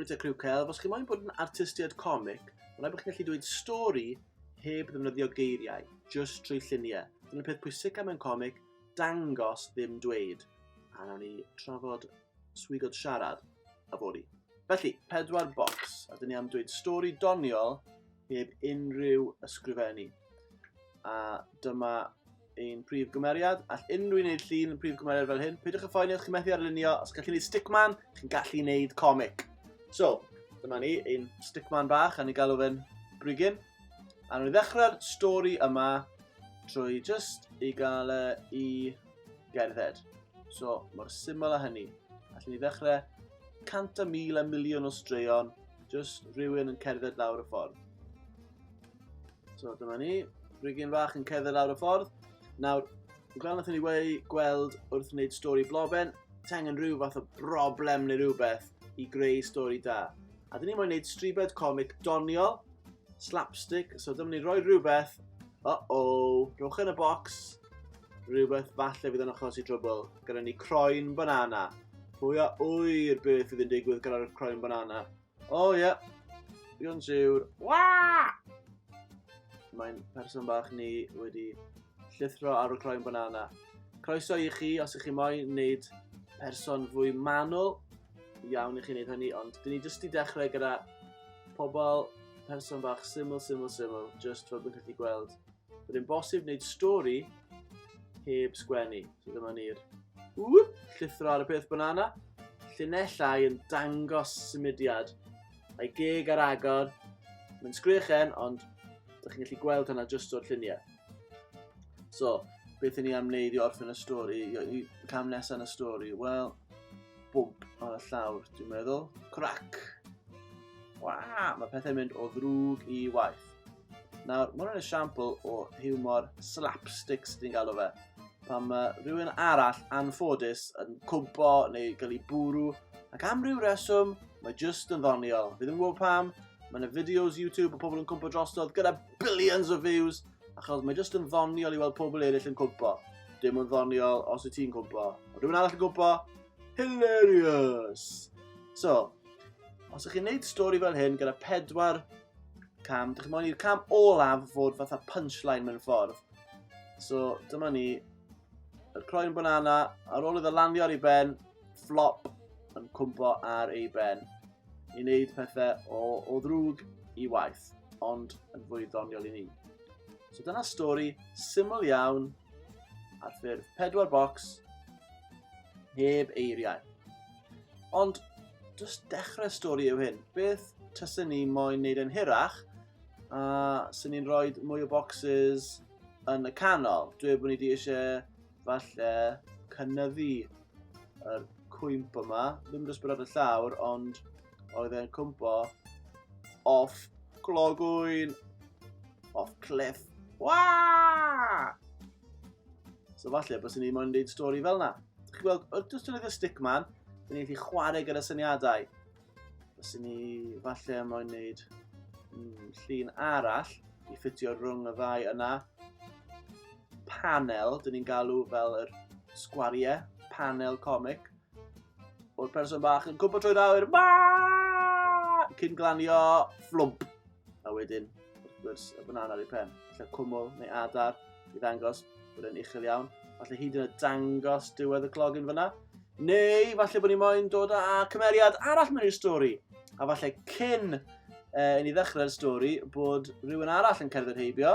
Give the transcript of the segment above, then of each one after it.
Rwy'n Criw Celf, os chi moyn bod yn artistiad comic, mae'n rhaid bod chi'n gallu dweud stori heb ddefnyddio geiriau, just trwy lluniau. Dyna'r peth pwysig am yn comic, dangos ddim dweud. A nawn ni trafod swigod siarad a fori. Felly, pedwar bocs, a dyn ni am dweud stori doniol heb unrhyw ysgrifennu. A dyma ein prif gymeriad. All unrhyw un wneud llun prif gymeriad fel hyn. Peidiwch y ffoen chi'n methu arlunio. Os gallu gwneud stickman, chi'n gallu gwneud comic. So, dyma ni, ein stickman bach, a ni galw fe'n brigyn. A nhw'n ddechrau'r stori yma trwy just i gael e i gerdded. So, mor syml a hynny. Allen ni ddechrau 100,000 a miliwn o straeon Just rhywun yn cerdded lawr y ffordd. So dyma ni, brigyn fach yn cerdded lawr y ffordd. Nawr, fel nath ni wei gweld wrth wneud stori bloben, tengen rhyw fath o broblem neu rhywbeth i greu stori da. A dyn ni moyn wneud stribed comic doniol, slapstick, so dyma ni roi rhywbeth, o o, rhywch yn y box, Rhywbeth falle fydd yn achosi trwbl. Gyda ni croen banana. Pwy a wyr beth fydd yn digwydd gyda'r croen banana? O oh, ie. Yeah. Digon siwr. Waa! Mae'n person bach ni wedi llithro ar y croen banana. Croeso i chi os ych chi moyn wneud person fwy manwl. Iawn i chi wneud hynny, ond dyn ni jyst i dechrau gyda pobl person bach syml, syml, syml, just fel bydd chi wedi gweld Bydd yn bosib wneud stori heb sgwennu. So dyma ni'r llithro ar y peth banana. Llinellau yn dangos symudiad. A'i geg ar agor. Mae'n sgrechen, ond ydych chi'n gallu gweld hynna jyst o'r lluniau. So, beth i ni am wneud i orffen y stori, i cam nesaf yn y stori? Wel, bwmp ar y llawr, dwi'n meddwl. Crac! Waa, mae pethau'n mynd o ddrwg i waith. Nawr, mae'n rhaid esiampl o humor slapstick sydd wedi'n galw fe. Pan mae rhywun arall anffodus yn cwmpo neu gael ei bwrw, ac am ryw reswm, mae jyst yn ddoniol. Fi ddim yn gwybod pam, Mae yna videos YouTube o pobl yn cwmpo drosodd gyda billions o views, achos mae jyst yn ddoniol i weld pobl eraill yn cwmpo. Dim yn ddoniol os wyt ti'n cwmpo. Ond rhywun arall yn cwmpo, hilarious! So, os ydych chi'n gwneud stori fel hyn gyda pedwar cam. Dych chi'n mwyn i'r cam olaf fod fatha punchline mewn ffordd. So, dyma ni. Yr croen banana, ar ôl iddo landio ar ei ben, flop yn cwmpo ar ei ben. I wneud pethau o, o ddrwg i waith, ond yn fwy ddoniol i ni. So dyna stori syml iawn ar ffurf pedwar bocs heb eiriau. Ond, just dechrau stori yw hyn. Beth tysyn ni moyn wneud yn hirach, a sy'n ni'n rhoi mwy o boxes yn y canol. Dwi bod ni wedi eisiau falle cynnyddu yr cwymp yma. Ddim jyst bod ar y llawr, ond oedd e'n cwmpo off clogwyn, off cliff. Waa! So falle bys ni moyn deud stori fel na. Dych chi'n gweld, wrth dystynydd y stick man, dyn ni'n gallu chwarae gyda syniadau. Bys ni falle moyn neud mm, llun arall i ffitio rhwng y ddau yna. Panel, dyn ni'n galw fel yr sgwariau, panel comic. O'r person bach yn cwmpa trwy'r awyr. Ma! Cyn glanio fflwmp. A wedyn, wrth gwrs, y banana ar ei pen. Felly cwmwl neu adar i ddangos bod e'n uchel iawn. Felly hyd yn y dangos diwedd y clog yn fyna. Neu, falle bod ni moyn dod â cymeriad arall mewn i'r stori. A falle cyn e, i ni ddechrau'r stori bod rhywun arall yn cerdded heibio.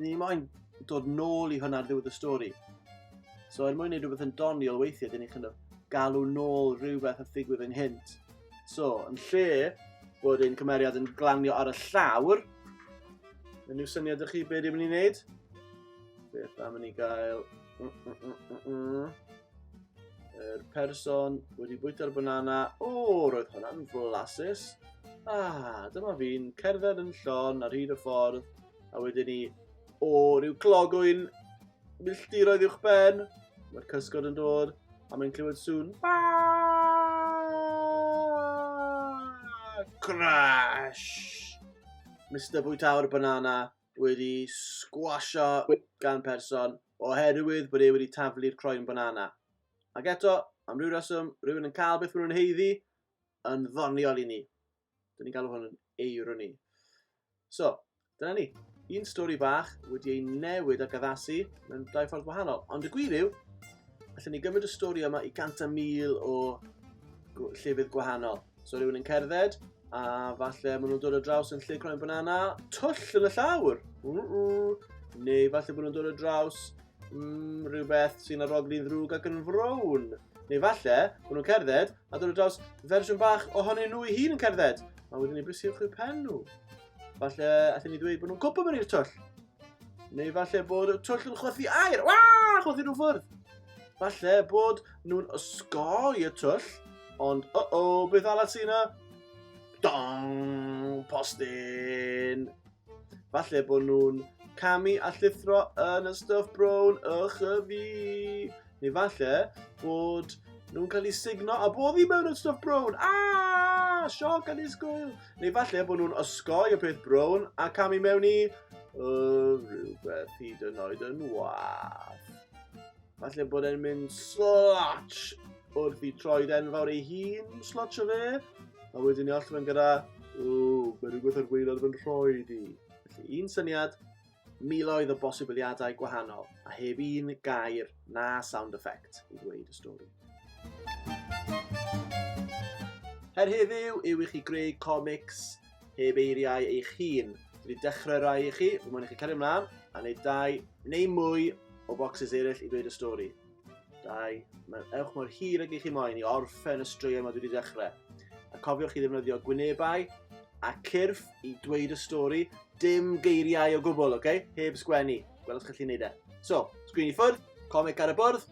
Ni moyn dod nôl i hwnna ar ddiwedd y stori. So er mwyn gwneud rhywbeth yn doniol weithiau, dyn ni'n kind of galw nôl rhywbeth a figwydd ynghynt. So, yn lle bod ein cymeriad yn glanio ar y llawr, yn yw syniad ych chi beth ydym ni'n gwneud? Beth am ni gael... Mm, mm, mm, yr person wedi bwyta'r banana. O, roedd hwnna'n flasus. Ah, dyma fi'n cerdded yn llon ar hyd y ffordd A wedyn ni, o ryw clogwyn milltiroedd uwch ben, mae'r cysgod yn dod, a mae'n clywed sŵn. Crash! Mr Bwytawr Banana wedi sgwasio gan person oherwydd bod e wedi taflu'r croen banana. Ac eto, am ryw reswm, rhywun yn cael beth maen nhw'n heiddi yn ddoniol i ni. Dyn ni'n galw hwn yn eironi. So, dyna ni. Un stori bach wedi ei newid ac addasu mewn dau ffordd wahanol. Ond y gwir yw, allan ni gymryd y stori yma i gant a mil o llefydd gwahanol. So rhywun yn cerdded, a falle maen nhw'n dod o draws yn lle croen banana, twll yn y llawr. Neu falle bod nhw'n dod o draws mm, rhywbeth sy'n aroglu'n ddrwg ac yn frown. Neu falle, bod nhw'n cerdded a dod o draws fersiwn bach ohonyn nhw i hun yn cerdded, a wedyn ni brisiwch i'r pen nhw. Falle, allan ni ddweud bod nhw'n cwpwm yn i'r twll. Neu falle bod y twll yn chwythu air, wa, chwythu nhw ffwrdd. Falle bod nhw'n ysgoi y twll, ond o o, beth allat sy'n yna? Dong, postyn. Falle bod nhw'n camu a llithro yn y stuff brown ych y fi. Neu falle bod nhw'n cael eu signo a bod hi mewn yn stuff brown. Aaaa! Sioc a disgwyl. Neu falle bod nhw'n osgoi y peth brown a camu mewn i... Uh, rhywbeth hyd yn oed yn wath. Falle bod e'n mynd slotch wrth i troed enfawr ei hun slotch o fe. A wedyn ni allan gyda, ww, mae rhywbeth ar wneud ar fy nhroed i. Felly un syniad, miloedd o bosibiliadau gwahanol, a heb un gair na sound effect i ddweud y stori. Her heddiw yw i chi greu comics heb eiriau eich hun. Dwi wedi dechrau rai i chi, fy mwyn i chi cario ymlaen a wneud dau neu mwy o bocsys eraill i ddweud y stori. Dau, mae'n ewch mor hir ag i chi moyn i orffen y straeon mae dwi wedi dechrau. A cofiwch i ddefnyddio gwynebau a cyrff i dweud y stori, dim geiriau o gwbl, oce? Okay? Heb sgwennu. Gwelwch chi chi'n neud e. So, sgwini ffwrdd, comic ar y bwrdd,